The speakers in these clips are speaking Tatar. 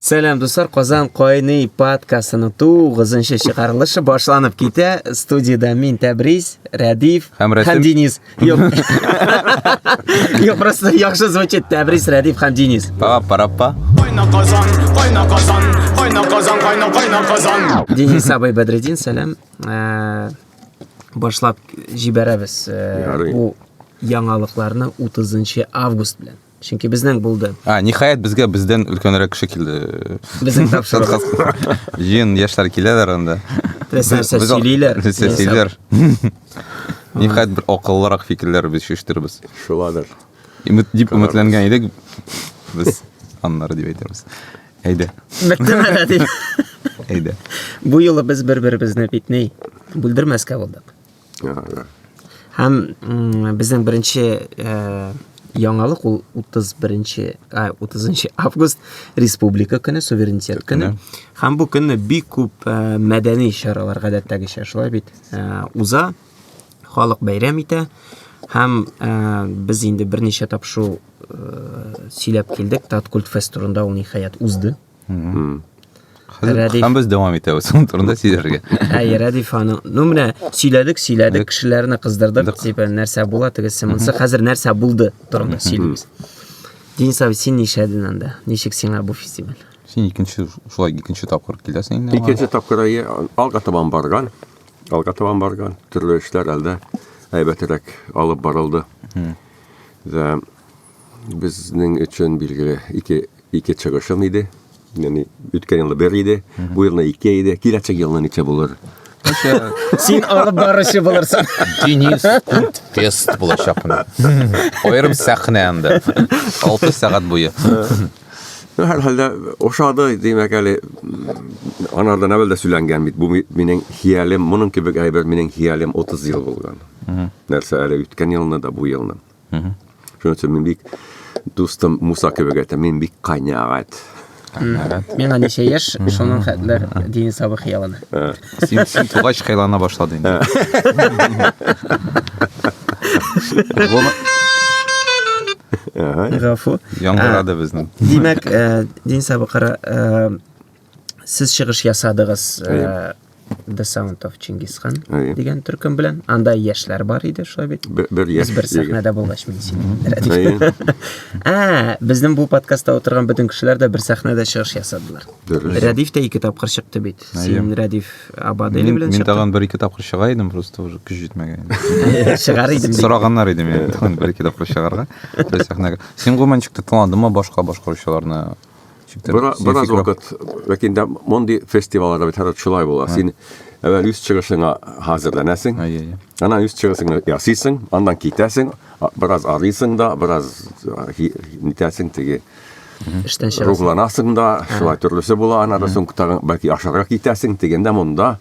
Сәлам, дуслар, Казан кайный подкастының тугызынчы чыгарылышы башланып китә. Студияда мин Тәбриз, Рәдиф һәм, һәм Денис. Юк. Юк, просто яхшы звучит Тәбриз, Рәдиф һәм Денис. Пара пара па. Кайна Казан, кайна Казан, кайна Казан, кайна кайна Казан. Денис абый Бәдредин, сәлам. Э, башлап җибәрәбез э, бу яңалыкларны 30 август белән. Чөнки безнең булды. А, ниһаять безгә бездән өлкәнрәк кеше килде. Безнең тапшырып. Җыен яшьләр киләләр анда. Без нәрсә сөйлиләр. Без сөйлиләр. Ниһаять бер акыллырак фикерләр без шештербез. Шуладыр. Имет дип үмәтләнгән идек. Без аннары дип әйтәбез. Әйдә. Мәктәбә дип. Әйдә. Бу юлы без бер-беребезне битни, бүлдермәскә булдык. Һәм безнең беренче э, яңалык ул 31-нче, 30 август республика көне, суверенитет көне. Һәм бу көнне бик күп э, мәдәни чаралар гадәттәгечә шулай бит э, уза. Халык бәйрәм итә. Һәм ә, без инде берничә тапшыру ә, сөйләп килдек. Таткульт фест турында ул ниһаять узды. Һәм без дәвам итәбез шуның турында сөйләргә. Әй, Рәдиф ханым. Ну менә сөйләдек, сөйләдек, кешеләрне кыздырдык, дип нәрсә була тегесе монсы. Хәзер нәрсә булды турында сөйлибез. Денис абый, син нишләдең анда? Ничек сиңа бу фестиваль? Син икенче шулай икенче тапкыр киләсең инде. Икенче тапкыр әйе, алга табан барган. Алга табан барган. Төрле эшләр әлдә әйбәтрәк алып барылды. Да. Безнең өчен билгеле ике ике чыгышым иде. Яни үткән елны бер иде, бу елны ике иде. Киләчәк елны ничә булыр? Син алып баручы булырсың. Денис күп тест булачак менә. Аерым сәхнә анда. 6 сәгать буе. Ну, һәр хәлдә ошады, димәк әле, анардан әвәл дә сөйләнгән бит, бу минем хиялем, моның кебек әйбер минем хиялем 30 ел булган. Нәрсә әле үткән елны да, бу елны. Шөтсә мин бик дустым Муса кебек әйтә, мин бик канәгать. Канәгать. Миңа ничә яшь, шуның хәтләр дин сабы хыялына. Син син тугач хыялана башлады инде. Гафу. Яңгырады безнең. Димәк, дин сабы кара сез чыгыш ясадыгыз э, The Sound of Genghis Khan Әйе. дигән төркем белән. Анда яшьләр бар иде, шулай бит? Бер- бер яшь Без бер егет. сәхнәдә булгач мин сине рәдик. Әйе. Ә, безнең бу подкастта утырган бөтен кешеләр дә бер сәхнәдә чыгыш ясадылар. Дөрес. Рәдиф тә ике тапкыр чыкты бит. Син Рәдиф Абадели Мин, белән мин чыктың. тагын бер ике тапкыр чыга идем, просто уже көч җитмәгән. Чыгар идем. дип. Сорагыннар иде мені тагын бір екі тапқыр шығарға бір сахнаға сен гуманчикті тыңладың ба башқа башқарушыларны Бераз вакыт, ләкин дә мондый фестивалларда бит һәрвакыт шулай була. Син әвәл үз чыгышыңа хәзерләнәсең. Аннан үз чыгышыңны ясыйсың, аннан китәсең, бераз арыйсың да, бераз нитәсең теге эштән чыгасың. Рухланасың да, шулай төрлесе була, аннан да соң бәлки ашарга китәсең дигәндә монда.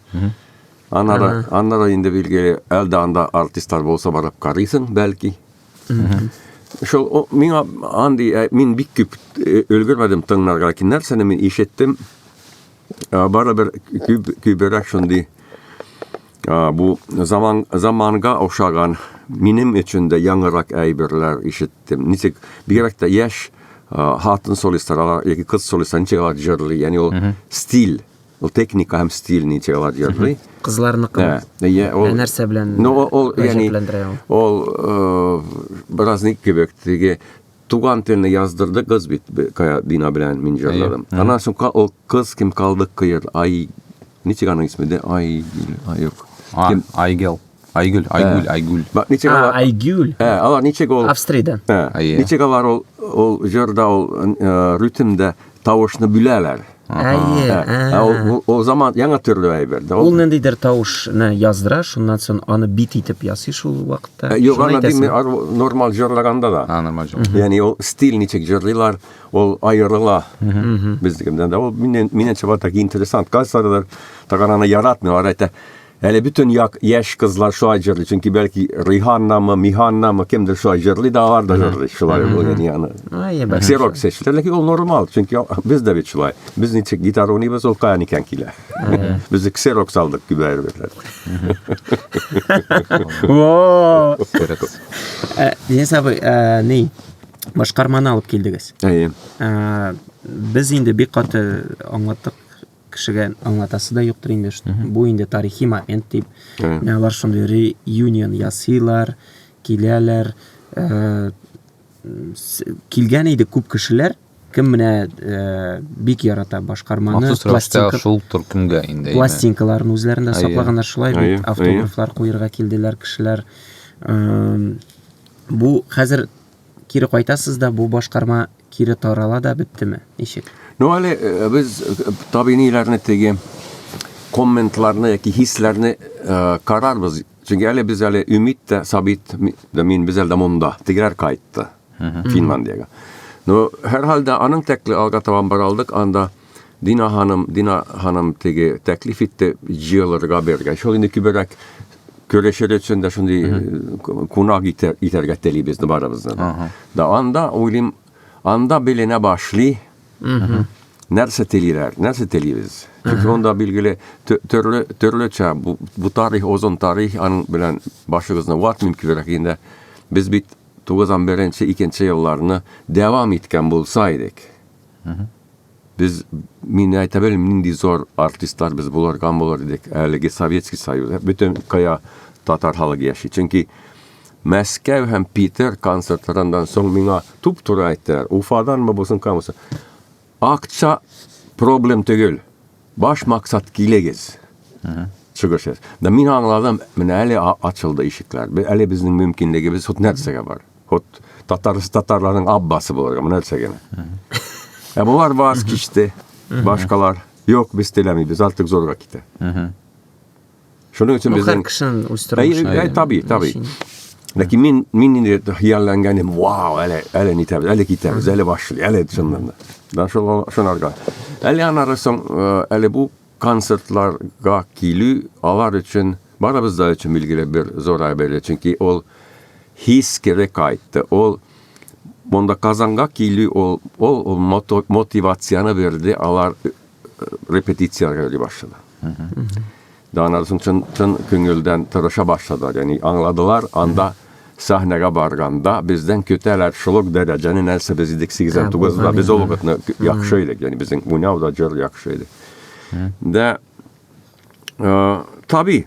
Аннан да инде билгеле, әлдә анда артистлар булса барып карыйсың, бәлки. Шул о, миңа андый ә, мин бик күп э, өлгермәдем тыңларга ләкин нәрсәне мин ишеттем ә, барыбер күп күберәк шундый ә, бу заман заманга охшаган минем өчен дә яңарак әйберләр ишеттем ничек бигрәк тә яшь ә, хатын солистлар яки кыз солистлар ничек алар җырлый яни ул стиль Ул техника һәм стиль ни тирәләр йөрли. Кызларныкы. Ә, я, ул, ә нәрсә белән ну, ул, ул, яни, ул э, бераз ник кебек, теге туган телне яздырды кыз бит бина белән мин җырладым. Аннан соң ул кыз кем калды кыйр, ай, ничек аның исме дә, ай, ай, юк. Айгел. Айгөл, Айгүл, Айгүл. Бак, ничек А, алар? Айгюль. Ә, алар ничек ул? Австриядән. Ә, Әйе. Ничек алар ул ул җырда ул э, ритмда тавышны бүләләр. Әйе. Ә, ә, ә. ул, ул, ул заман яңа төрле әйбер. дә, Ул ул- ниндидер тавышны яздыра, шуннан соң аны бит итеп ясый шул вакытта. Ә, Юк, Шуны аны әйтәсең. димме, ар- нормаль җырлаганда да. А, нормально. Яни ул стиль ничек җырлыйлар, ул аерыла безнекеннән дә. Ул миннән миннән чыга так интересант. Кайсылар тагананы яратмыйлар, әйтә. Әле бөтен як яшь кызлар шулай җырлый, чөнки бәлки Риханнамы, Миханнамы, кемдер шулай җырлый да алар да җырлый шулай ул яни аны. Ай, бәхәс. Сирок сәчләр, ләкин ул нормал, чөнки без дә бит шулай. Без ничек гитара уйныйбыз, ул каян икән килә. Без ксерок салдык күбәер бит. Во! Сирокс. Э, Денис абый, э, ни? Башкарманы алып килдегез. Әйе. Э, Без инде бик каты аңлаттык кешегә аңлатасы да юктыр инде, бу инде тарихи момент дип. Менә алар шундый реюнион ясыйлар, киләләр. Э, килгән иде күп кешеләр, кем менә э, бик ярата башкарманы. Махсус рәвештә шул төркемгә инде. Пластинкаларын үзләрендә саклаганнар шулай бит, автографлар куерга килделәр кешеләр. Э, бу хәзер кире кайтасыз да бу башкарма кире тарала да беттеме ничек ну әле э, без э, табиниләрне теге комментларны яки хисләрне э, карарбыз чөнки әле без әле өмит тә сабит да мин без әле монда тегеләр кайтты финландиягә ну һәрхәлдә аның тәкле алга табан бара алдык анда Дина ханым, Дина ханым теге тәклиф итте җыелырга бергә. Шул инде күбрәк көрәшер өчен дә шундый э, кунак итәргә телибез барыбыз да. Да анда уйлыйм, анда беленә башлый. Нәрсә телиләр, нәрсә телибез? Чөнки анда билгеле төрле төрлечә бу, бу тарих, озын тарих, аның белән башыгызны ватмыйм күбрәк инде. Без бит 91-нче, 2-нче елларны дәвам иткән булса идек. Без, мин әйтә белмим, нинди зор артистлар без булырган булыр идек. Әлеге Советский Союз, ә бөтен кая татар халыгы яши. Чөнки Мәскәү һәм Питер концертларыннан соң миңа туп-туры әйттеләр, Уфаданмы булсын, камысы. Акча проблем түгел. Баш максат килегез. Чыгыш. Да мин аңладым, менә әле ачылды ишекләр. Әле безнең мөмкинлегебез вот нәрсәгә бар. Вот татарсы татарларның аббасы булырга менә нәрсә генә. Ә булар ваз кичте, башкалар. Юк, без теләмибез, артык зорга китә. Шуның өчен без һәр кешенең үз тормышы. Әй, таби, таби. Ләкин мин мин инде хыяллангәнем, вау, әле әле нитәбез, әле китәбез, әле башлый, әле чыннан да. Да шул шунарга. Әле анары соң, әле бу концертларга килү алар өчен, барыбыз да өчен билгеле бер зур әйбер, чөнки ул хис кире кайтты. Ул монда Казанга килү ул ул, ул мотивацияне бирде, алар э, репетицияләргә йөри башлады. Да аналар чын, чын, чын күңелдән тырыша башлады. Ягъни аңладылар, анда сәхнәгә барганда бездән көтәләр шул ук дәрәҗәне нәрсә без идек 89 да без ул вакытны яхшы идек яни безнең уйнау да җыр яхшы иде дә таби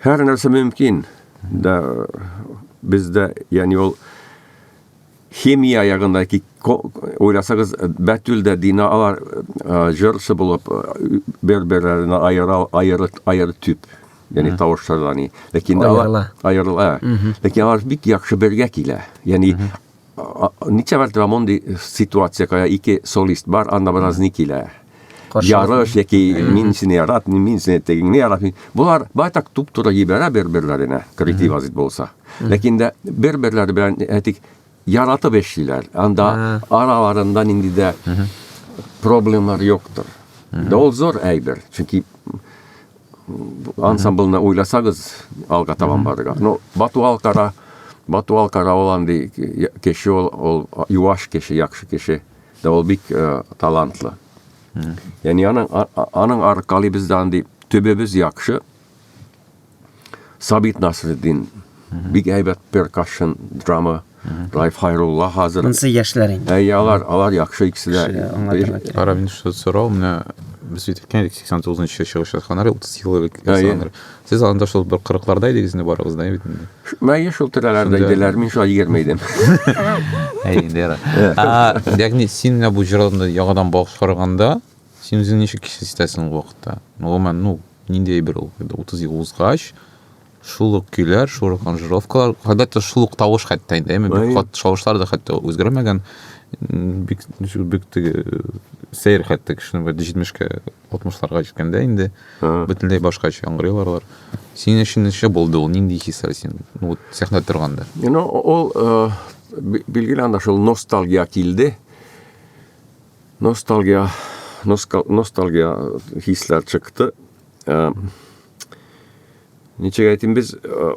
һәр нәрсә мөмкин дә бездә яни ул Химия ягында ки, уйласагыз, Бәтүл дә Дина алар җырчы булып бер-берләрен аера аеры аеры төп. Яни тавышларда ни. Ләкин алар аерыла. Ләкин алар бик яхшы бергә килә. Яни ничә мәртәбә мондый ситуация, кая ике солист бар, анда бераз ни килә. Ярыш яки мин сине яратмыйм, мин сине тегеңне яратмыйм. Болар байтак туп-туры җибәрә бер-берләренә, коллектив азит булса. Ләкин дә бер-берләре белән әйтик, яратып эшлиләр. Анда араларында нинди дә проблемалар юктыр. Да ул зур әйбер, чөнки ансамбльне уйласагыз, алга табан барырга. Ну, Бату Алкара, Бату Алкара ул андый кеше ул, ул юаш кеше, яхшы кеше. Да ул бик э, талантлы. Яни аның аның аркалый без да андый төбебез яхшы. Сабит Насреддин бик әйбәт перкашн драма Райф Хайрулла хәзер. Монсы яшьләр инде. Әй, алар, алар яхшы икесе дә. Ара, мин шул сорау, менә без бит әйткән идек, 89 нчы чыгыш ятканнар, 30 ел элек ясаганнар. Сез анда шул бер кырыкларда идегез инде барыгыз да бит инде. Мәйе шул тирәләрдә Шунда- иделәр, мин шулай егерме идем. Әй, инде яра. А, Ягъни син менә бу җырны яңадан баш караганда, син үзең ничек хис итәсең ул вакытта? Ну, гомумән, ну, ниндәй бер ул, инде 30 ел узгач, шул ук көйләр, шул ук аранжировкалар, хәтта шул ук тавыш хәтта инде, әйме, бик Әй. кат шавышлар да хәтта үзгәрмәгән. М, Бик бик теге сәер хәтта кешенең бер 70-кә Алтмышларга җиткәндә инде бөтенләй башкача яңгырый аларлар. Синең өчен ничә булды ул? Нинди хисләр син? Ну, вот сәхнәдә торганда. Ну, ул э, билгеле анда шул ностальгия килде. Ностальгия, ностальгия хисләр чыкты. Э, ничек әйтим без э,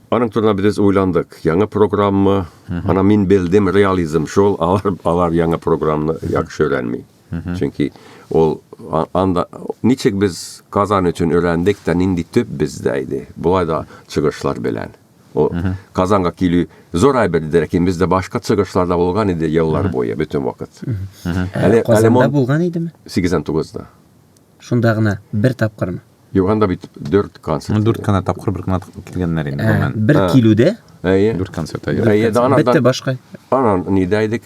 Аның турында без уйландык. Яңа программа, ана мин белдем реализм шул, алар алар яңа программаны яхшы өйрәнми. Чөнки ул анда ничек без Казан өчен өйрәндек тә нинди төп бездә иде. Болай да чыгышлар белән. Ул Казанга килү зур әйбер иде, ләкин бездә башка чыгышлар да булган иде еллар буе, бөтен вакыт. Әле Казанда булган идеме? 89-да. Шунда гына бер тапкырмы? Юк, анда бит 4 концерт. Ну, 4 гына тапкыр, бер гына килгәннәр инде, гомумән. Бер килүдә? Әйе. 4 концерт, әйе. Әйе, да анан. Бетте башка. Анан нидә идек?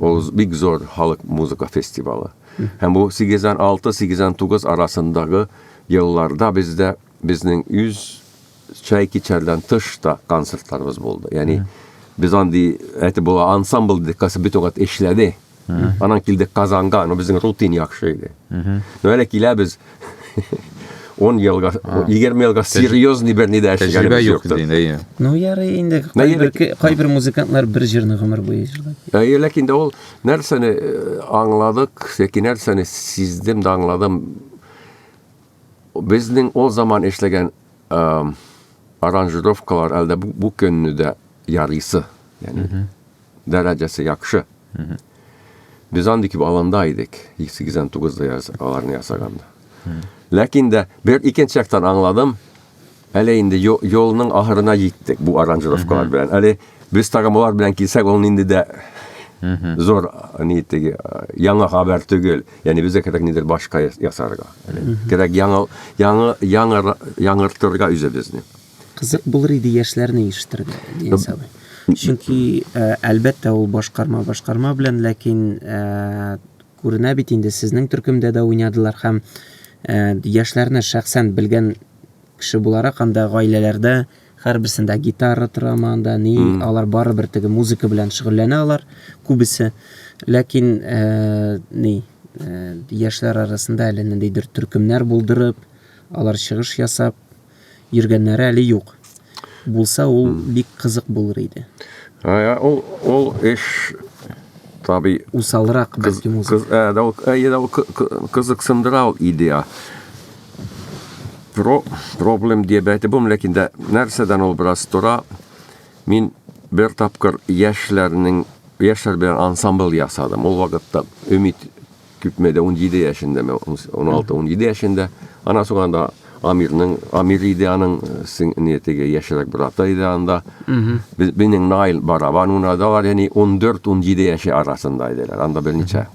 Ул бик зур халык музыка фестивалы. Һәм бу 86-89 арасындагы елларда бездә безнең үз чай кичәрдән тыш та концертларыбыз булды. Ягъни без андый әйтеп була ансамбль дип касы бит вакыт эшләде. Анан килдек Казанга, но безнең рутин яхшы иде. Но әле киләбез, он елга, егерме елга серьезный бер нидә эшләгәнебез Тәҗрибә юк юктыр. инде, әйе. Ну, ярый инде. Нә Кайбер, ярый? ке- кайбер музыкантлар бер җырны гомер буе җырлап. Әйе, ләкин дә ул нәрсәне э, аңладык, яки нәрсәне сиздем дә аңладым. Безнең ул заман эшләгән эм, аранжировкалар әлдә бу, бу көнне дә ярыйсы. Яни, дәрәҗәсе яхшы. Без андый кип аланда идек, 89 да аларны ясаганда. Ләкин дә бер икенче яктан аңладым, әле инде юлның ахырына җиттек бу аранжировкалар белән. Әле без тагымлар белән килсәк, ул инде дә зур ни теге яңа хәбәр түгел. Ягъни безгә кирәк нидер башка ясарга. Кирәк яңа яңа яңа яңартырга үзебезне. Кызык булыр иде яшьләрне ишетергә, Денис абый. Чөнки, э, әлбәттә, ул башкарма башкарма белән, ләкин э, күренә бит инде сезнең төркемдә дә уйнадылар һәм э, яшьләрне шәхсән белгән кеше буларак һәм дә гаиләләрдә һәрберсендә гитара тора анда, ни, алар барыбер теге музыка белән шөгыльләнә алар күбесе. Ләкин э, ни, э, яшьләр арасында әле ниндидер төркемнәр булдырып, алар чыгыш ясап, йөргәннәре әле юк. Булса, ул бик кызык булыр иде. Ә, ул, ул эш таби... Усалрак бәлки музыка. Кыз, ә, да, ул, ә, да, ул кызыксындыра ул идея. Про, проблем диеп әйтеп булмый, ләкин дә нәрсәдән ул бераз тора. Мин бер тапкыр яшьләрнең яшьләр белән ансамбль ясадым. Ул вакытта Өмит Күпме дә 17 яшендә, мен 16-17 яшендә. Ана соң анда Амирның, Амир иде аның, син не теге яшерәк брата иде анда. Без бинең Найл барабан уна да бар, яни 14-17 яше арасында иделәр. Анда бер ничә.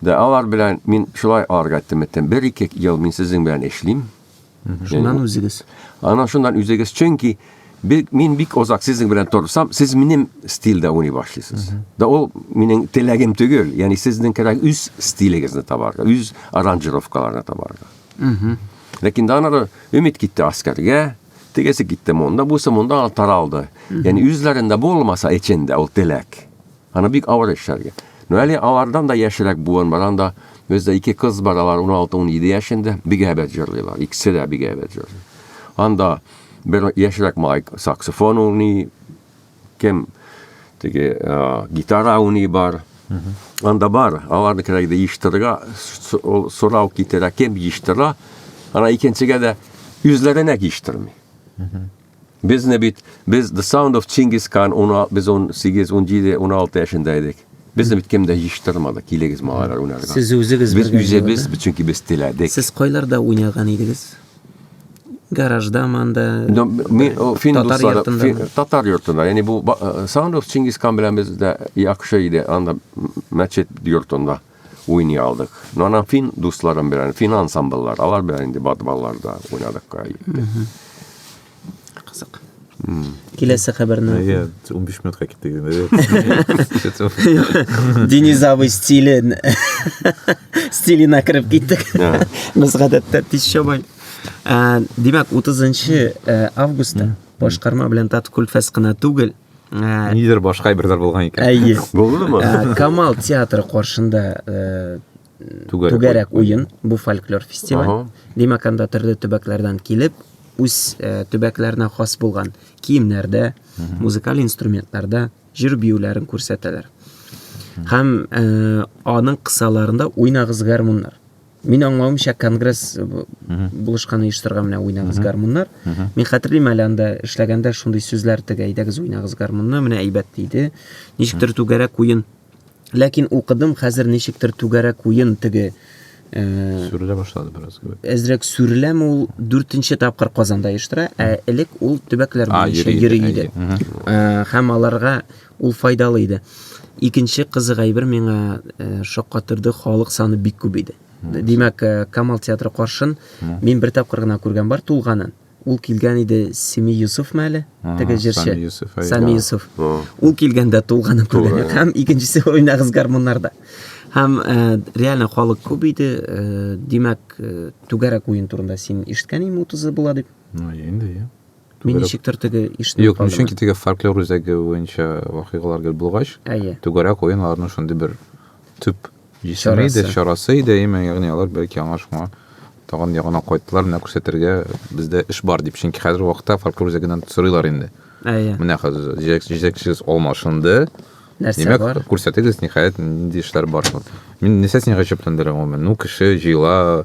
Да алар белән мин шулай арга тиметтем. Бер ике ел мин сезнең белән эшлим. Шуннан э, үзегез. Анан шуннан үзегез, чөнки мин бик озак сезнең белән торсам, сез минем стильдә уйный башлыйсыз. Да ул минем теләгем түгел, ягъни сезнең кирәк үз стилегезне табарга, үз аранжировкаларны табарга. Ләкин да анары өмет китте аскәргә, тегесе китте монда, бусы монда таралды. Ягъни үзләрендә булмаса эчендә ул теләк. Аны бик авыр эшләргә. Но әле алардан да яшерәк буын бар анда. Бездә ике кыз бар, алар 16-17 яшендә, бик әйбәт җырлыйлар, икесе дә бик әйбәт җырлый. Анда бер яшерәк малай саксофон уйный, кем теге гитара уйный бар. Анда бар, аларны кирәк дә ештерга, сорау китерә, кем ештерә. Ана икенчегә дә үзләренә ештерми. Безне бит, без The Sound of Чингис Хан, без 18, 17, 16 яшендә идек. Безне бит кем дә җыштырмады, килегез малайлар уйнарга. Сез үзегез Без үзебез, чөнки без теләдек. Сез кайларда уйнаган идегез? Гаражда манда, татар йортында. Татар йортында, яни бу э, Sound of Чингис Хан белән без дә яхшы иде, анда мәчет йортында. уйный алдык. Но ана фин дусларым белән, фин ансамбльлар, алар белән инде балаларда уйнадык. Кызык. Киләсе хәбәрне. Әйе, 15 минутка китте. Динизавый стилен. Стилина кереп киттек. Без гадәттә тиз чабай. Димәк, 30 августта башкарма белән Тат Кульфәс кына түгел, Ә, Нидер башка әйберләр булган икән. Әйе. Булдымы? Ә, Камал театры каршында э, Түгәрәк түгәрәк уен, бу фольклор фестиваль. Ага. Димәк, анда төрле төбәкләрдән килеп, үз э, төбәкләренә хас булган киемнәрдә, музыкаль инструментларда җыр биюләрен күрсәтәләр. Һәм э, аның кысаларында уйнагыз гармуннар. Мин аңлавымча конгресс булышкан оештырга менә уйнагыз гармуннар. Мин хәтерлим әле анда эшләгәндә шундый сүзләр тегә әйдәгез уйнагыз гармунны, менә әйбәт диде. Ничектер түгәрәк уен. Ләкин укыдым хәзер ничектер түгәрәк уен теге э, сүрелә башлады бераз кебек. Әзрәк сүреләме ул 4 тапкыр Казанда оештыра, ә элек ул төбәкләр буенча йөри иде. Э, һәм аларга Ул файдалы иде. Икенче кызык әйбер миңа э, шаккатырды, халык саны бик күп иде. Димәк, э, Камал театры каршын мин бер тапкыр гына күргән бар тулганын. Ул килгән иде Семи Юсуф мәле, теге җырчы. Сами Юсуф, әй. Сами Юсуф. Ул килгәндә тулганын күргән. Тулган. Һәм икенчесе уйнагыз гармуннарда. Һәм э, реально халык күп иде. Э, Димәк, э, түгәрәк уен турында син ишеткән инде 30 була дип. Ну, инде, я. Мин ничектер теге ишне Юк, чөнки теге фольклор үзәге буенча вакыйгалар гел булгач, түгәрәк уен аларның шундый бер төп җисеме иде, чарасы иде, әйме, ягъни алар бәлки аңа шуңа тагын ягына кайттылар, менә күрсәтергә бездә эш бар дип. Чөнки хәзер вакытта фольклор үзәгеннән сорыйлар инде. Әйе. Менә хәзер җитәкчегез алмашынды. Нәрсә Димәк, бар? Күрсәтегез, ниһаять, нинди эшләр бар. Мин нәрсә сине гаҗәпләндерә гомумән? Ну, кеше җыела,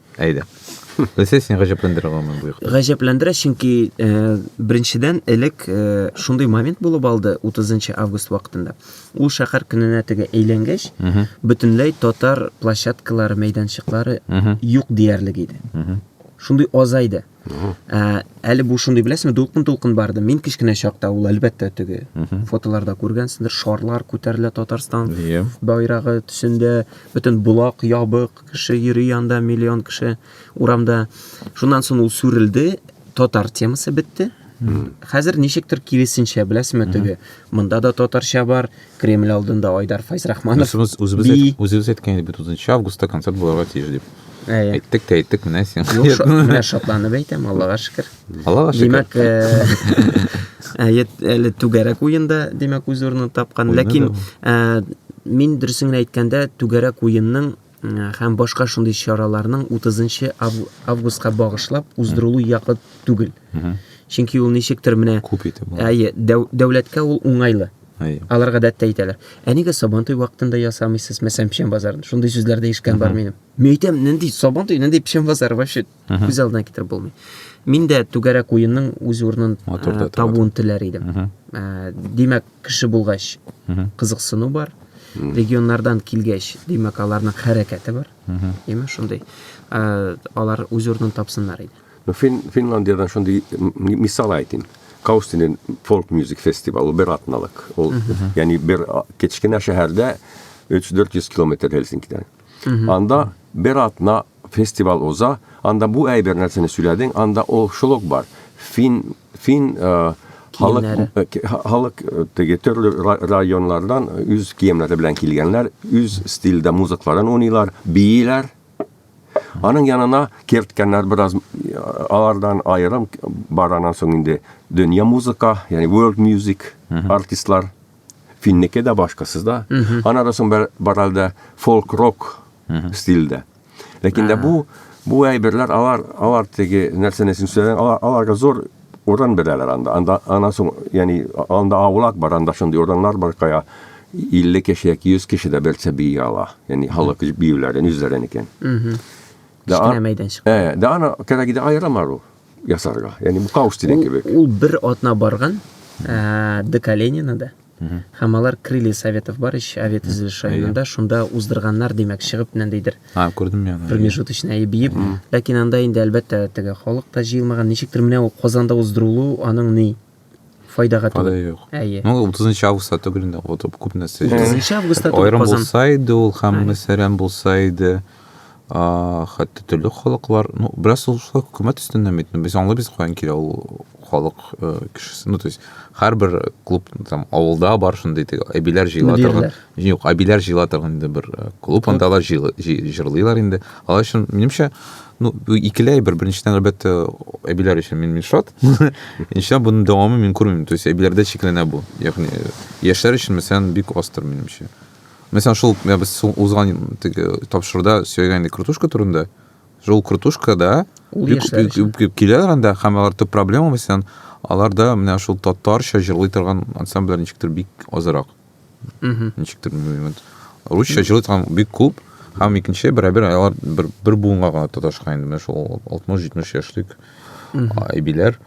Әйдә. Нәрсә сине гаҗәпләндерә гомумән бу якта? Гаҗәпләндерә, чөнки э, беренчедән элек э, шундый момент булып алды 30 август вакытында. Ул шәһәр көненә теге әйләнгәч, бөтенләй татар площадкалары, мәйданчыклары юк диярлек иде. Шундый азайды. Ә, әле бу шундый беләсеңме, дулкын-дулкын барды. Мин кечкенә чакта ул әлбәттә теге фотоларда күргәнсеңдер, шарлар күтәрелә Татарстан yeah. байрагы төсендә, бөтен булак ябык, кеше йөри анда миллион кеше урамда. Шуннан соң ул сүрелде, татар темасы бетте. Хәзер ничектер киресенчә, беләсеңме, теге монда да татарча бар, Кремль алдында Айдар Файзрахманов. Үзебез, үзебез, би... әйт, үзебез әйткән идек бит 30 августта концерт булырга тиеш дип. Ә, ә. Әйттек тә әйттек, менә син. Юк, шо, менә шатланып әйтәм, Аллага шөкер. Аллага шөкер. Димәк, э, әйе, әле түгәрәк уенда, димәк, үз урынын тапкан. Ләкин э, мин дөресен әйткәндә, түгәрәк уенның һәм башка шундый чараларның 30 августка багышлап уздырылу якы түгел. Чөнки ул ничектер менә күп итеп. Әйе, дәүләткә ул уңайлы. Алар гадәттә әйтәләр. Ә нигә Сабантуй вакытында ясамыйсыз, мәсәлән, печән базарын? Шундый сүзләр дә ишеткән бар минем. Мин әйтәм, нинди Сабантуй, нинди печән базары вообще? күз алдына китереп булмый мин дә түгәрәк уенның үз урынын ә, табуын теләр идем ә, димәк кеше булгач кызыксыну бар регионнардан килгәч димәк аларның хәрәкәте бар яме шундый ә, алар үз урынын тапсыннар иде ну, фин, финландиядан шундый мисал айтим каустинен фолк мюзик фестивалы бер атналык ул яни бер кечкенә шәһәрдә 3-400 километр Хельсинкидан. Анда бер атна фестиваль уза, анда бу әйбер нәрсәне сөйләдең, анда ул шул ук бар. Фин, фин э, халык, э, халык э, теге төрле районнардан үз киемнәре белән килгәннәр, үз стильдә музыкларын уйныйлар, бииләр. Аның янына керткәннәр бераз алардан аерым баранан соң инде дөнья музыка, ягъни world music артистлар Финнеке дә башкасыз да. Ана да соң бар әлдә фолк-рок стильдә. Ләкин дә бу бу әйберләр алар алар теге нәрсәне син сөйләгән алар аларга зур урын бирәләр анда. Анда ана соң ягъни анда авылак бар, анда шундый урыннар бар кая 50 кеше яки 100 кеше дә берсе бии ала. Ягъни халык биюләрен үзләренекен. Кечкенә мәйданчык. Э, да ана кирәк иде аерым ару. ясарга. Ягъни бу каус дигән кебек. Ул бер атна барган э, Декаленинода. Һәм алар крылья советов бар ич, авет төзелеш районында, шунда уздырганнар, димәк, чыгып нәндидер. А, күрдем я. Промежуточный әйе биеп. Ләкин анда инде әлбәттә теге халык та җыелмаган. Ничектер менә ул Казанда уздырылу, аның ни? файдага түгел. Файда юк. Әйе. Ну, 30 августта түгел инде, вот күп нәрсә. 30 августта түгел. Айрым булса иде ул һәм мәсәрәм булса иде. А, хәтта төрле халыклар, ну, бераз ул шулай хөкүмәт өстеннән бит. Без аңлыйбыз каян килә ул халык э, кешесе. Ну, то есть, һәрбер клуб там авылда бар шундый теге әбиләр җыела торган. Юк, әбиләр җыела торган инде бер э, клуб, анда алар җырлыйлар инде. Алар өчен, минемчә, ну, икеләй бер, беренчедән, әлбәттә, әбиләр өчен мин Мишат, Иншалла буның дәвамы мин күрмим. То есть әбиләрдә чикләнә бу. Ягъни яшьләр өчен мәсәлән бик астыр минемчә. Мәсәлән шул я без узган теге тапшыруда сөйләгән крутушка турында. Шул крутушкада бик бик киләләр анда һәм алар төп проблема мәсәлән аларда менә шул татарча җырлый торган ансамбльләр ничектер бик азрак. мхм ничектер білмеймін енді русша жылы там бик көп һәм икенче берәбер алар бер, бер буынга гына тоташкан инде менә шул алтмыш җитмеш яшьлек әбиләр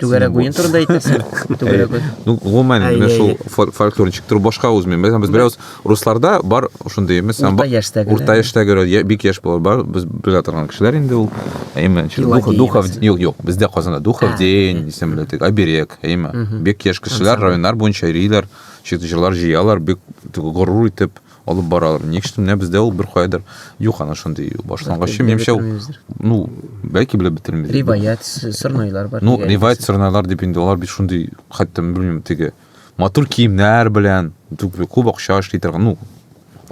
түгәрәк буен турында әйтәсең түгәрәк буен ну гомумән менә шул фольклор ничектер башка үзмен без без берәүс русларда бар шундый эмес урта яшьтәге урта яшьтәге бик яшь булар бар без белә торган кешеләр инде ул әйме духов юк юк бездә казанда духов день дисәм беләтек оберег әйеме бик яшь кешеләр районнар буенча йөриләр чыгышлар җыялар бик горур итеп алып баралар ник что менә бездә ул беркайдыр юк ана шундый башлангыч менимчә ну бәлки белеп бетермибез риваять сырнайлар бар ну риваять сырнайлар дип инде алар бит шундый хәтта белмим теге матур киемнәр белән күп акча эшли торган ну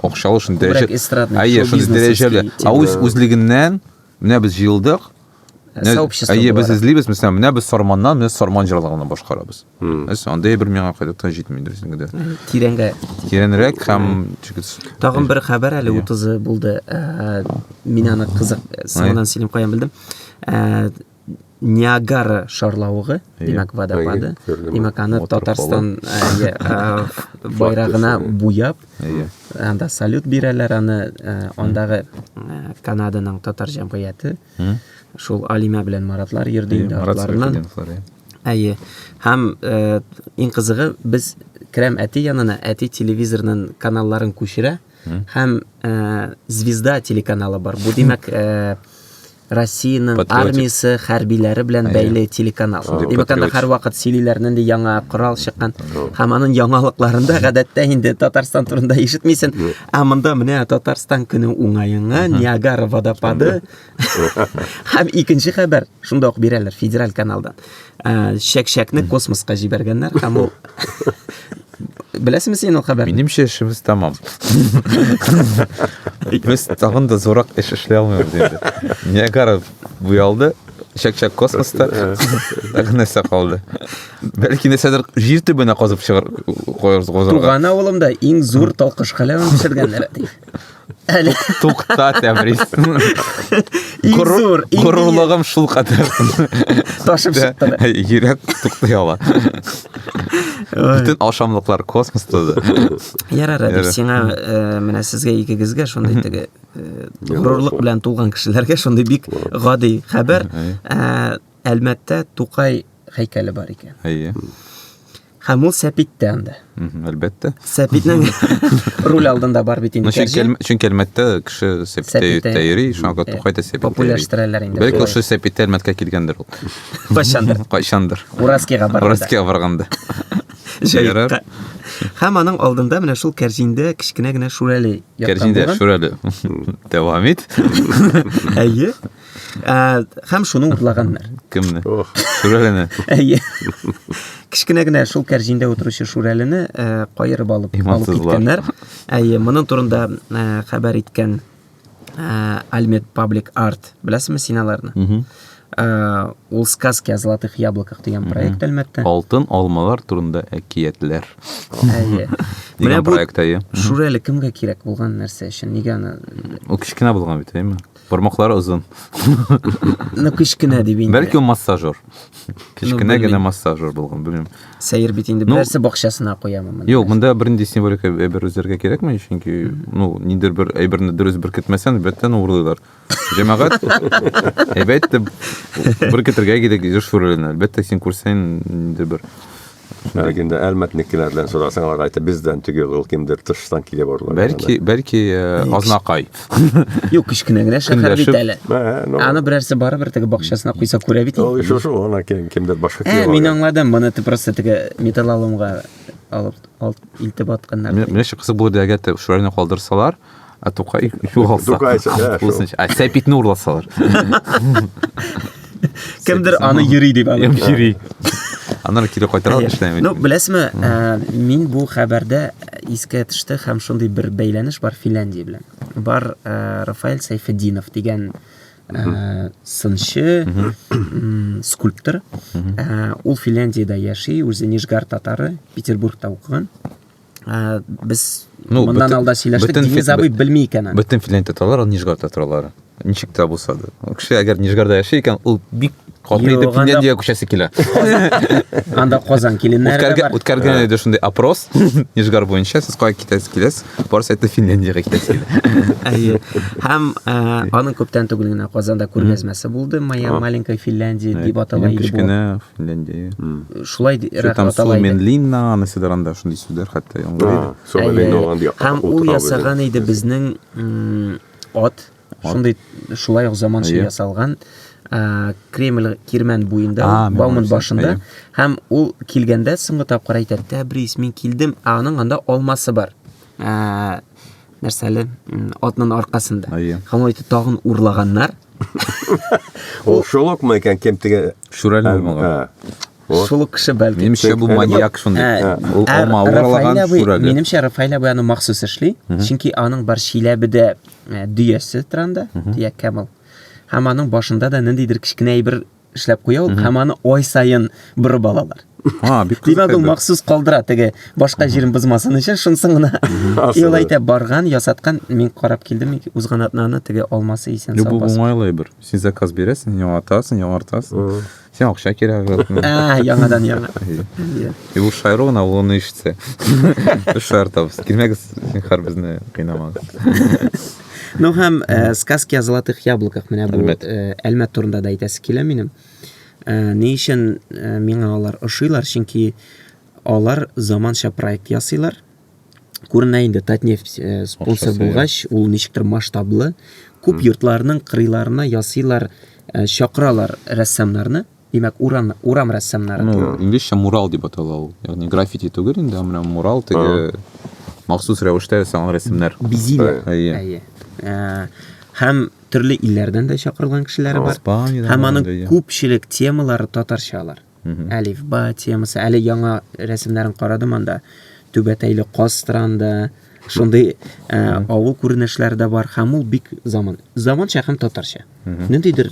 акчалы шундый дәрәҗә әйе шундый дәрәҗәле ә үз үзлегеннән Менә без җыелдык. Сообщество Әйе, без эзлибез, мисәлән, менә без Сарманнан, без Сарман җырлаганны башкарабыз. Әс, андый бер миңа кайда та җитми дөресен генә. Тирәнгә. Тирәнрәк һәм чигез. Тагын бер хәбәр әле 30 булды. Э, мин аны кызык э, соңыннан сөйлим каян белдем. Э, Ниагара шарлавыгы, димәк, водопады. Димәк, аны Татарстан байрагына буяп, Әйе. Анда салют бирәләр аны, э, андагы э, Канаданың татар җәмгыяте. Шул Алимә белән Маратлар йөрде инде артларыннан. Әйе. Һәм э, иң кызыгы без керәм әти янына, әти телевизорның каналларын күчерә һәм э, Звезда телеканалы бар. Бу димәк, э, Россиянең Патриотик. армиясе хәрбиләре белән Әйе. бәйле телеканал. Шундый Димәк, анда патриотик. һәрвакыт сөйлиләр, нинди яңа корал чыккан. Ага. Һәм аның яңалыкларында гадәттә инде Татарстан турында ишетмисен. Юк. Ә монда менә Татарстан көне уңаенга Ниагара водопады һәм икенче хәбәр шунда ук бирәләр федераль каналдан. Ә, Чәк-чәкне космоска җибәргәннәр һәм ул Беләсеңме син ул хәбәрне? Минемчә эшебез тәмам. Без тагын да зурак эш эшли алмыйбыз инде. Ниагара буялды, чәк-чәк космоста тагын нәрсә калды. Бәлки нәрсәдер җир төбенә казып чыгар куярбыз. Туган авылымда иң зур талкыш халәвен пешергәннәр. Әле. Тукта, Тәбриз. Иң зур, иң Горурлыгым шул кадәр. Ташып чыкты. Йөрәк туктый ала. Бөтен ашамлыклар космоста да. Ярар, әле сиңа э, менә сезгә икегезгә шундый теге э, горурлык белән тулган кешеләргә шундый бик гади хәбәр. Э, Әлмәттә Тукай һәйкәле бар икән. Әйе. Һәм ул сәпиттә анда. Әлбәттә. Сәпитнең руль алдында бар бит инде. Чөнки Әлмәттә кеше сәпиттә йөри, шуңа күрә Тукай да сәпиттә. Популярлаштыралар инде. Бәлки ошо сәпиттә Әлмәткә килгәндер ул. Кайчандыр. Кайчандыр. Ураскига барганда. Ураскига барганда. Җәйрәр. Һәм аның алдында менә шул кәрҗиндә кечкенә генә шүрәле яткан булган. Кәрҗиндә шүрәле. Дәвам ит. Әйе. Ә, һәм шуны урлаганнар. Кемне? Ох. Шүрәлене. Әйе. Кечкенә генә шул кәрҗиндә утыручы Шүрәлене ә, каерып алып алып киткәннәр. Әйе, моның турында ә, хәбәр иткән ә, Альмет Паблик Арт, беләсезме син аларны? Ә, ул сказки о золотых яблоках дигән проект Әлмәттә. Алтын алмалар турында әкиятләр. Әйе. Менә бу проект әйе. Шүрәле кемгә кирәк булган нәрсә өчен? Нигә аны? Ул кечкенә булган бит, әйеме? Бармаклары озын. Ну, кечкенә дип инде. Бәлки ул массажер. Кечкенә генә массажер булган, белмим. Сәер бит инде. Берсе бакчасына куямы моны? Юк, монда бернинди символика әйбер үзләргә кирәкми, чөнки, ну, нидер бер әйберне дөрес беркетмәсәң, бөтен урлыйлар. Җәмәгать әйбәт итеп беркетергә кирәк, еш шүрәләнә. Әлбәттә, син күрсәң, нидер бер Әлеге инде әлмәтнекеләрдән сорасаң, алар әйтә, бездән теге ул кемдер тыштан килеп орлар. Бәлки, бәлки э, Азнакай. Юк, кечкенә генә шәһәр бит әле. Ну, Аны берәрсе барыбер теге бакчасына куйса күрә бит. Ул шушы шул, ана кем, кемдер башка килеп. Ә, мин аңладым, моны ты просто теге металлоломга алып алып илтеп атканнар. Менә шушы кызык булыр дигән шуларны калдырсалар. ә тукай югалса тукай ә сәпитне урласалар кемдер аны йөри дип йөри аннары кире кайтаралар эшләми ну беләсезме ә, мин бу хәбәрдә искә төште һәм шундый бер бәйләнеш бар финляндия белән бар ә, рафаэль сайфеддинов дигән ә, сынчы скульптор ә, ул финляндияда яши үзе нижгар татары петербургта укыган Ә, без ну, моннан бөтен, алда сөйләштек, бөтен, Денис абый белми икән. Бөтен Финляндия татарлары Нижгардта торалар. Ничек тә булса да. Кеше әгәр Нижгарда яши икән, ул бик каты итеп Финляндия күчәсе килә. Анда Казан киленнәре бар. Үткәргән үткәргән иде шундый опрос Нижгар буенча, сез кая китәсез киләсез? Барысы әйтте Финляндиягә китәсез килә. Һәм аның күптән түгел генә Казанда күргәзмәсе булды, Моя маленькая Финляндия дип атала иде бу. Финляндия. Шулай ди- Что рак там атала иде. Суменлинна, анысы да анда шундый сүзләр хәтта яңгыр А, иде. Әйе, Сомалине әйе. алган якка Һәм ул утырабыз ясаган инде. иде безнең м, ат. Шундый шулай ук заманча Әйе. ясалган а, Кремль кирмән буенда, А, ул, мен Бауман барсам, башында. әйе. Һәм ул килгәндә соңгы тапкыр әйтә, Тәбрис, мин килдем, ә аның анда алмасы бар. Ә, нәрсә әле атның аркасында һәм ул тагын урлаганнар ул шулыкмы икән кем теге шүрәле ә, булмаган ә. Шул кеше бәлки. Минемчә бу маньяк шундый. Ә, ул ә, алма урлаган шүрәле. Минемчә Рафаэль абый аны махсус эшли, чөнки аның бар Чиләбедә дөясе транда, дөя кәмел. Һәм аның башында да ниндидер кечкенә әйбер эшләп куя ул һәм аны ай саен борып алалар. А, бик кызык. Димәк, ул махсус калдыра теге башка җирен бозмасын өчен, шунсын гына. Ил әйтә барган, ясаткан, мин карап килдем, узган атнаны теге алмасы исән сау. Бу уңайлы бер. Син заказ бирәсең, яңартасың, яңартасың. Син акча кирәк. А, яңадан яңа. И бу шайру гына ул аны ишетсә. Шайр табыз. Килмәгез, син хәр безне кыйнамагыз. Ну һәм э, сказки о золотых яблоках менә бу Әлмәт. э, Әлмәт турында да әйтәсе килә минем. Э, ни өчен э, миңа алар ошыйлар? Чөнки алар заманча проект ясыйлар. Күренә инде Татнефть э, спонсор Акчасы, булгач, ул ничектер масштаблы. Күп йортларның кырыйларына ясыйлар, э, чакыралар рәссамнарны. Димәк, урам, урам рәссамнары. Ну, инглизчә мурал дип атала ул. Ягъни граффити түгел инде, ә менә мурал теге махсус рәвештә ясалган рәсемнәр. Бизиләр. Әйе. Ә, Һәм төрле илләрдән дә чакырылган кешеләр бар. Испаниядән Һәм аның барганда, иә. күпчелек темалары татарча алар. Әлифба темасы. Әле яңа рәсемнәрен карадым анда. Түбәтәйле Кастранда шундый ә, авыл күренешләре дә бар. Һәм ул бик заман. Заманча һәм татарча. Ниндидер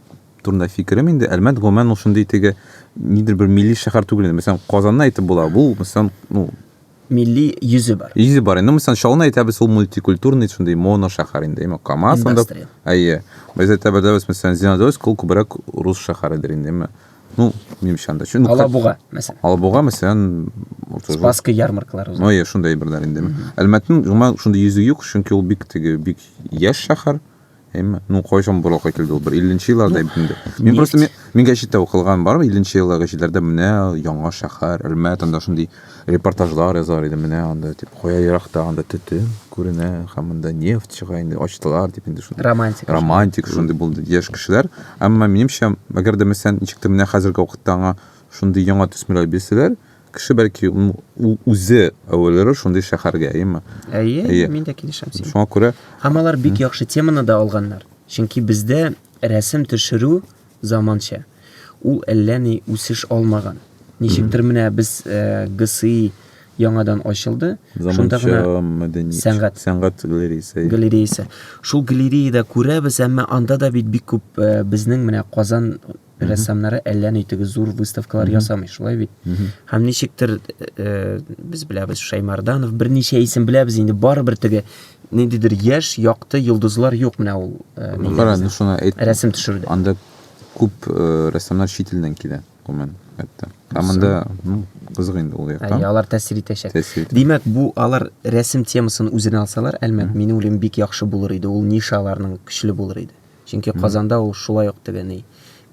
турында фикерем инде әлмәт гомумән ул шундый теге нидер бер милли шәһәр түгел инде мәсәлән казанны әйтеп була бу мәсәлән ну милли йөзе бар йөзе бар инде мәсәлән чаллыны әйтәбез ул мультикультурный шундый моно шәһәр инде әмма камаз анда әйе без әйтәбез мәсәлән зеленодольск ул күбрәк рус шәһәредер инде әмма ну минемчә анда чөнки алабуга мәсәлән алабуга мәсәлән спасская ярмаркалар ну әйе шундый берләр инде әлмәтнең гомумән шундый йөзе юк чөнки ул бик теге бик яшь шәһәр әйме ну кайчан борылып кайтылды ул бер илленче елларда әйбит инде мин просто мин гәҗиттә укылган бар илленче еллар гәҗитләрдә менә яңа шәһәр әлмәт анда шундый репортажлар язар иде менә анда дип кая еракта анда төтен күренә һәм монда нефть чыга инде ачтылар дип инде шундый романтик романтик шундый булды яшь кешеләр әмма минемчә әгәр дә мәсәлән ничек тә менә хәзерге вакытта аңа шундый яңа төсмерләр бирсәләр Кеше бәлки үзе әвәлере шундый шәһәргә, әйеме? Әйе, әйе. мин дә килешәм сиңа. Шуңа күрә Һәм алар бик яхшы теманы да алганнар. Чөнки бездә рәсем төшерү заманча. Ул әллә ни үсеш алмаган. Ничектер менә без э, ГСИ яңадан ачылды. Шунда гына мәдәни сәнгать сәнгать галереясы. Галереясы. Шул галереяда күрәбез, әмма анда да бит бик күп э, безнең менә Казан Рәссамнары әллә ни теге зур выставкалар ясамый, шулай бит? Һәм ничектер э, без беләбез Шаймарданов, берничә исем беләбез инде, барыбер теге ниндидер яшь, якты йолдызлар юк менә ул. э, нигә Кара, безнең ну шуны әйт. Рәсем төшерүдә. Анда күп э, рәссамнар чит илдән килә, гомумән, хәтта. Ә монда, ну, кызык инде ул Әйе, якта. алар тәэсир итәчәк. Тәэсир итә. Димәк, бу алар рәсем темасын үзенә алсалар, әлмәт, мин уйлыйм, бик яхшы булыр иде. Ул ниша аларның көчле булыр иде. Чөнки Казанда ул шулай ук тегени.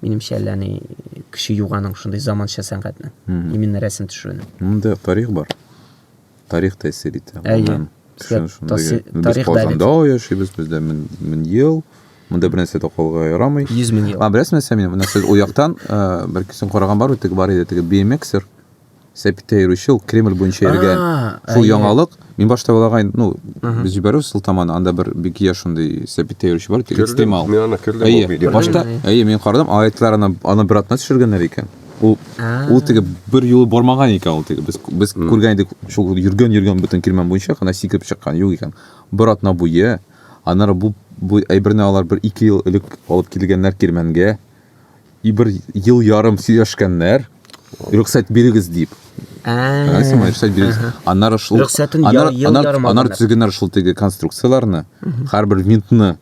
Минемчә, әллә ни кеше юганың шундый заманча сәнгатьне. Именно рәсем төшерүне. Монда тарих бар. Тарих тәэсир итә. Әйе. Без Казанда яшибез, бездә мин ел. Монда бер нәрсә дә калга ярамый. 100 мең ел. А, беләсеңме, сез ул яктан, бәлки син караган бар, теге бар иде, теге BMXer. Сәпиттә йөрүче ул Кремль буенча йөргән. Шул яңалык. Мин башта уйлаган идем, ну, без җибәрү сылтаманы, анда бер бик яшь шундый Сәпиттә йөрүче бар, тик экстремал. Мин аны күрдем ул видео. Башта, әйе, мин карадым, алайтлар аны аны бер атна төшергәннәр икән. Ул ул теге бер юлы бармаган икән ул теге. Без без күргән идек, шул йөргән йөргән бөтен Кирмән буенча гына сикереп чыккан юк икән. Бер атна буе. Аннары бу бу әйберне алар бер ике ел элек алып килгәннәр Кирмәнгә. И бер ел ярым сөйләшкәннәр. Рөхсәт бирегез дип. Әйсең мә, рөхсәт бирегез. Аннары шул Рөхсәтен аннары- ел аннары- ярым аннары алганнар. төзегәннәр шул теге конструкцияләрне. Һәрбер винтны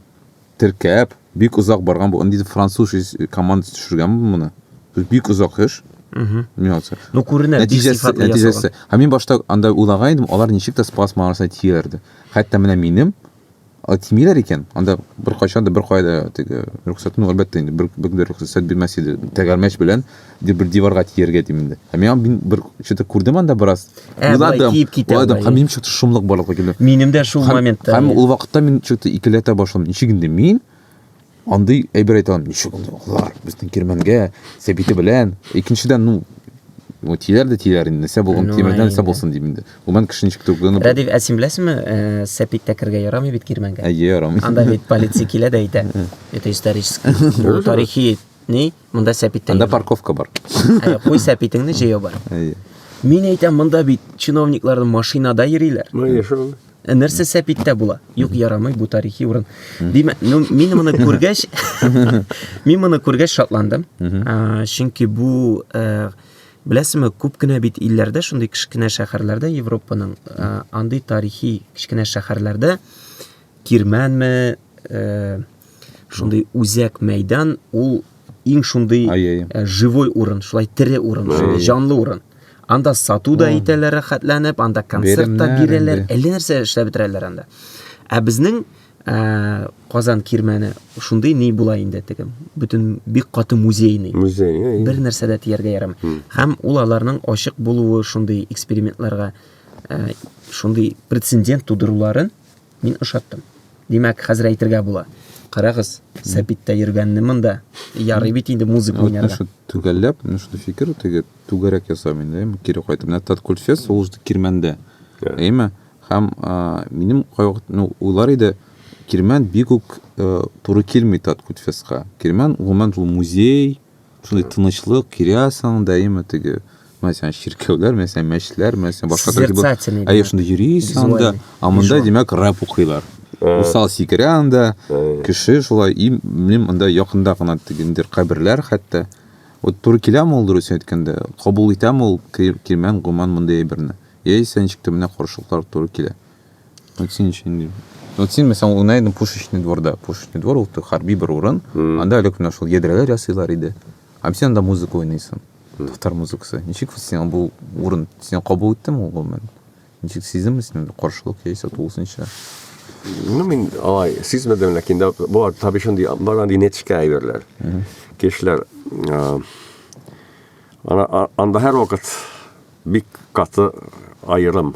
теркәп, бик озак барган бу. Инде француз ис- командасы төшергән моны. То есть Бик озак эш. Миңа калса. Ну, күренә, бик Нәтиҗәсе, сыйфатлы нәтиҗәсе. ясалган. Һәм мин башта анда уйлаган идем, алар ничек тә спас маңгасына тияр дип. Хәтта менә минем Әйтмиләр икән, анда беркайчан да беркая да теге рөхсәтне әлбәттә инде бер бер дә рөхсәт бирмәс иде. Тәгәрмәч белән ди бер диварга тияргә дим инде. Һәм миңа мин бер что-то күрдем анда бераз. Ә, болай Уйладым, тиеп китә уйладым, аңлай, һәм иә. минем что-то шомлык барлыкка килде. Минем дә шул Һәм, моментта. һәм иә. ул вакытта мин что-то икеләтә башладым. Ничек инде мин Андый әйбер әйтә алмыйм, ничек ул оглар, безнең кирмәнгә, сәбите белән. Икенчедән, ну, ну тиләр дә тиләр инде, нәрсә булган, ну, тимердән нәрсә булсын дим инде. Гомән кеше ничек түгелгән. Радив, ә син беләсеңме, э, сәпиттә кергә ярамый бит кирмәнгә? Әйе, ярамый. Анда бит полиция килә дә әйтә. Это исторический, бу тарихи, ни, монда сәпиттә. Анда парковка бар. Ә, куй сәпитеңне җәяү бар. Әйе. Мин әйтәм, монда бит чиновникларның машинада йөриләр. Ну, яшәү. Ә нәрсә сәпиттә була? Юк, ярамый бу тарихи урын. Димәк, ну, мин моны күргәч, мин моны күргәч шатландым. Чөнки бу э, беләсезме, күп кенә бит илләрдә, шундый кечкенә шәһәрләрдә Европаның э, андый тарихи кечкенә шәһәрләрдә кирмәнме, э, Шундый үзәк мәйдан ул иң шундый э, живой урын, шулай тере урын, шундый җанлы урын. Анда сату да итәләр рәхәтләнеп, анда концерт та бирәләр, әллә нәрсә эшләп бетерәләр анда. Ә безнең э, Казан кирмәне шундый ни була инде теге. Бөтен бик каты музейный. Музей. Бер нәрсә дә тияргә ярамый. Һәм ул аларның ачык булуы шундый экспериментларга э, шундый прецедент тудыруларын Мин ошаттым. Димәк, хәзер әйтергә була. Карагыз, сәпиттә йөргәнне монда. Ярый бит инде музыка уйнарга. Вот наша түгәлләп, менә шундый фикер, теге түгәрәк ясам инде, әйме, кире кайтып. Менә Таткультфест сулышты кирмәндә. Әйме? Һәм минем кайвакыт, ну, уйлар иде, кирмән бик үк туры килми Таткультфестка. Кирмән, гомумән, ул музей, Шундый тынычлык, кирясың, даимы теге, мәсәлән, чиркәүләр, мәсәлән, мәчләр, мәсәлән, башка төр кебек. Созерцательный, Әйе, да. шунда йөрисең анда, Визуальный, а монда, визуаль. димәк, рэп укыйлар. Усал сикерә анда, кеше шулай, и, минем анда якында гына теге ниндидер каберләр хәтта. Вот туры киләме ул, дөресен әйткәндә, кабул итәме ул кер- кирмән, гоман мондый әйберне? Яисә ничек тә менә каршылыклар туры килә. Вот син ничего не Вот син мәсәлән уйнадың пушечный дворда. Пушечный двор ул хәрби бер урын. Анда әле менә шул ядрәләр ясыйлар иде. Һәм син анда музыка уйныйсың. Татар музыкасы. Ничек син бу урын син кабул иттең ул гомумән? Ничек сиздеңме син каршылык яисә тулысынча? Ну, мин алай сизмәдем, ләкин дә бар таби шундый бар андый нечкә әйберләр. Кешеләр анда һәрвакыт бик каты аерым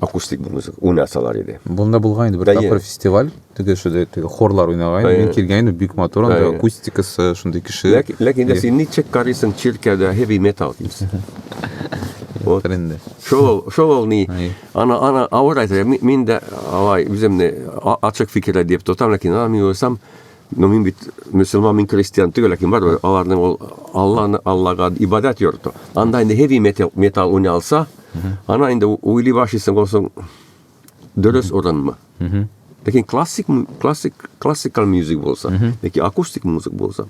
акустик бер музыка уйнасалар иде. Бунда булган инде бер Әйе. тапкыр фестиваль, теге шундый теге хорлар уйнаган, Әйе. мин килгән идем, бик матур, анда Әйе. акустикасы шундый кеше. Ләкин, ләкин дә син ничек карыйсың чиркәүдә heavy metal дисең? Вот. Хәтер инде. Шул ул- шул ул ни? Әйе. Ана ана авыр әйтә. Мин, мин дә алай үземне а- ачык фикерле дип тотам, ләкин ана мин уйласам, Ну мин бит мөселман, мин крестьян түгел, ләкин бар аларның ул Алланы Аллага ибадәт йорты. Анда инде heavy metal, металл уйный алса, ана инде уйлый башлыйсың олсың дөрес урынмы. Ләкин классик классик классикал музык булса, яки акустик музык булса,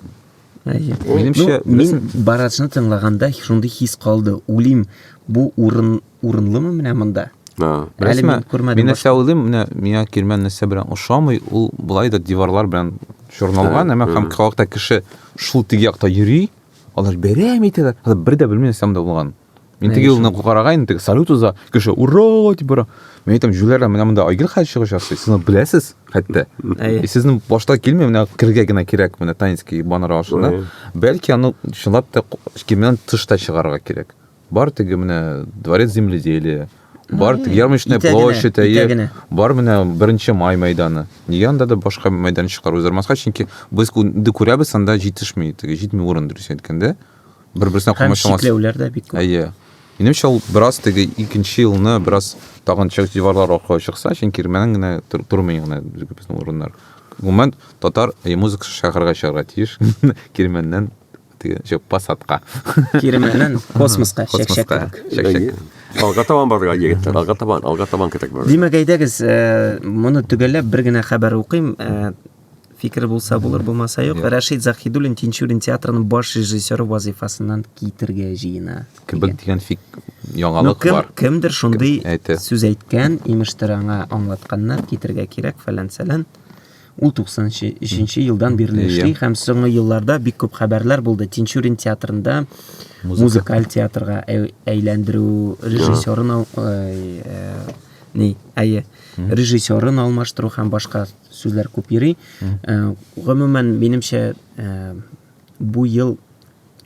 Минемчә, ну, мин барачны тыңлаганда шундый хис калды. Улим, бу урын урынлымы менә монда? Да. Әле мин күрмәдем. Мин нәрсә уйлыйм, менә миңа кирмән нәрсә белән ошамый, ул былай да диварлар белән чорналган, әмма һәм халыкта кеше шул теге якта йөри, алар бәрәм итәләр. Алар бер дә белми нәрсә монда булган. Мин теге юлны карага инде теге салют уза, кеше ура дип бара. Мин әйтәм, җүләрләр менә монда Айгөл хәл чыгыш ясый. Сез беләсез хәтта. И сезнең башта килми, менә кергә генә кирәк менә Танинский баннер ашына. Бәлки аны чынлап та кимнән тышта чыгарга кирәк. Бар теге менә дворец земледелия, бар теге ярмарочная площадь, әйе. Бар менә беренче май мәйданы. Нигә анда да башка мәйдан чыгару үзәрмаска, чөнки без инде күрәбез, анда җитешми, теге җитми урын дөрес әйткәндә. Да? бер берсенә комачаулансын. Чикләүләр дә бик күп. Әйе. Минемчә ул бераз теге икенче елны бераз тагын чыгыш диварлар аркылы чыкса, чөнки Кирмәннән генә тормый гына безнең урыннар. Гомумән татар әйе музыкасы шәһәргә чыгарга тиеш. Кирмәннән теге җеп посадка. Кирмәннән космоска чәкчәк. Чәкчәк. Алга табан барырга егетләр, алга табан, алга табан кирәк барырга. Димәк, әйдәгез, э, моны төгәлләп бер генә хәбәр укыйм. Э, Фикер булса булыр, булмаса юк. Юк. Рәшит Захидуллин Тинчурин театрының баш режиссеры вазифасыннан китергә җыена. Кебек дигән фик Ну, яңалык кем, бар. кемдер шундый Кем әйтә? сүз әйткән, имештер аңа аңлатканнар, китергә кирәк, фәлән-сәлән. Ул 93 елдан бирле Иә. эшли һәм соңгы елларда бик күп хәбәрләр булды. Тинчурин театрында музыкаль театрга әй- әйләндерү, режиссерын ал- ай, э, ни, әйе, режиссерын алмаштыру һәм башка Сүзләр күп йөри. Э, гомумән, минемчә, э, бу ел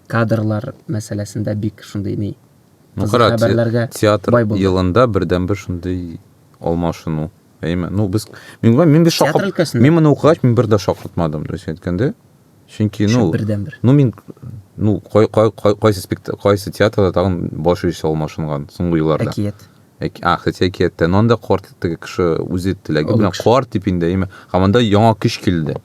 кадрлар мәсьәләсендә бик шундый ни Ну, кара, хәбәрләргә театр бай булды. елында бердән бер шундый алмашыну. Әйме? Ну, без мин гомумән мин бер Театр шакырт. өлкәсендә? Мин моны укыгач, мин бер дә шакыртмадым, дөрес әйткәндә. Чөнки, ну, Шул бердән бер. ну мин ну кай, кай, кай, кайсы спект- кайсы театрда тагын баш ише алмашынган соңгы елларда. Әкият. Хотя әкияттә, но анда карт теге кеше үзе теләге белән кар дип инде, әйме. Һәм анда яңа көч килде.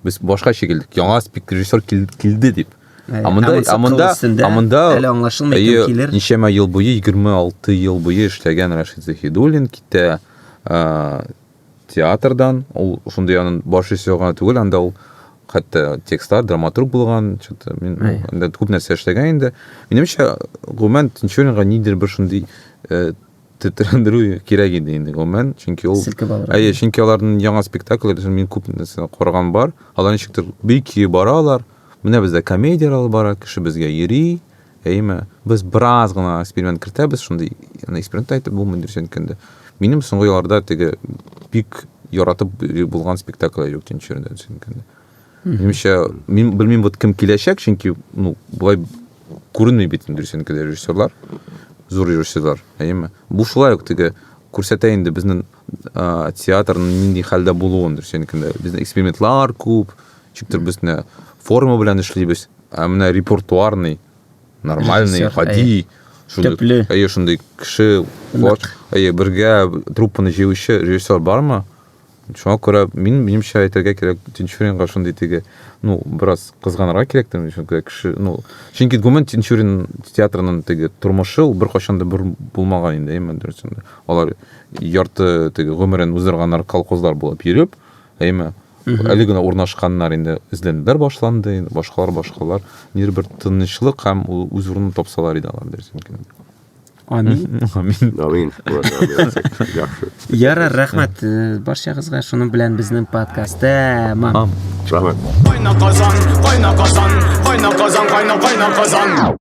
Без башка шикелле, яңа спик режиссер килде дип. Ә монда, ә монда, ә монда әле аңлашылмый кем килер. Ничәмә ел буе, 26 ел буе эшләгән Рашид Захидуллин китә. театрдан, ул шундый анын баш режиссер гына түгел, анда ул хәтта текстлар, драматург булган, что-то мин анда күп нәрсә эшләгән инде. Минемчә, гомумән Тинчуринга нидер бер шундый э, тетрәндерү кирәк иде инде гомумән, чөнки ул Селкеп алыр. Әйе, чөнки аларның яңа спектакльләрен мин күп нәрсә караган бар. Алар ничектер бик көе баралар. Менә бездә комедияләр алып бара, кеше безгә йөри, Әйеме? Без бераз гына эксперимент кертәбез, шундый яны эксперимент әйтеп булмый дөрес әйткәндә. Минем соңгы елларда теге бик яратып булган спектакль юк тинчерендә сөенкәндә. Минемчә, мин белмим вот кем киләчәк, чөнки ну, болай күренми бит инде дөрес әйткәндә режиссерлар, зур режиссерлар, әйеме? Бу шулай ук теге күрсәтә инде безнең театрның нинди хәлдә булуын дөрес әйткәндә бездә экспериментлар күп ничектер без менә форма белән эшлибез ә менә репертуарный нормальный гади төпле әйе шундый кеше әйе бергә труппаны җыючы режиссер бармы шуңа күрә мин минемчә әйтергә кирәк тинчуринга шундый теге ну бераз кызганырга кирәктер мин чөнки кеше ну чөнки гомумән тинчурин театрының теге тормышы ул беркайчан да булмаган инде әйеме дөресен алар ярты теге гомерен уздырганнар колхозлар булып йөреп, әйме, әле генә урнашканнар инде эзләнүләр башланды, инде башкалар, башкалар. Нир бер тынычлык һәм үз урынын тапсалар иде алар дөрес микән? Амин. Амин. Амин. Ярар, рәхмәт э, барчагызга. Шуның белән безнең подкаст тәмам. Рәхмәт. Кайна казан, кайна казан, кайна казан, кайна кайна казан.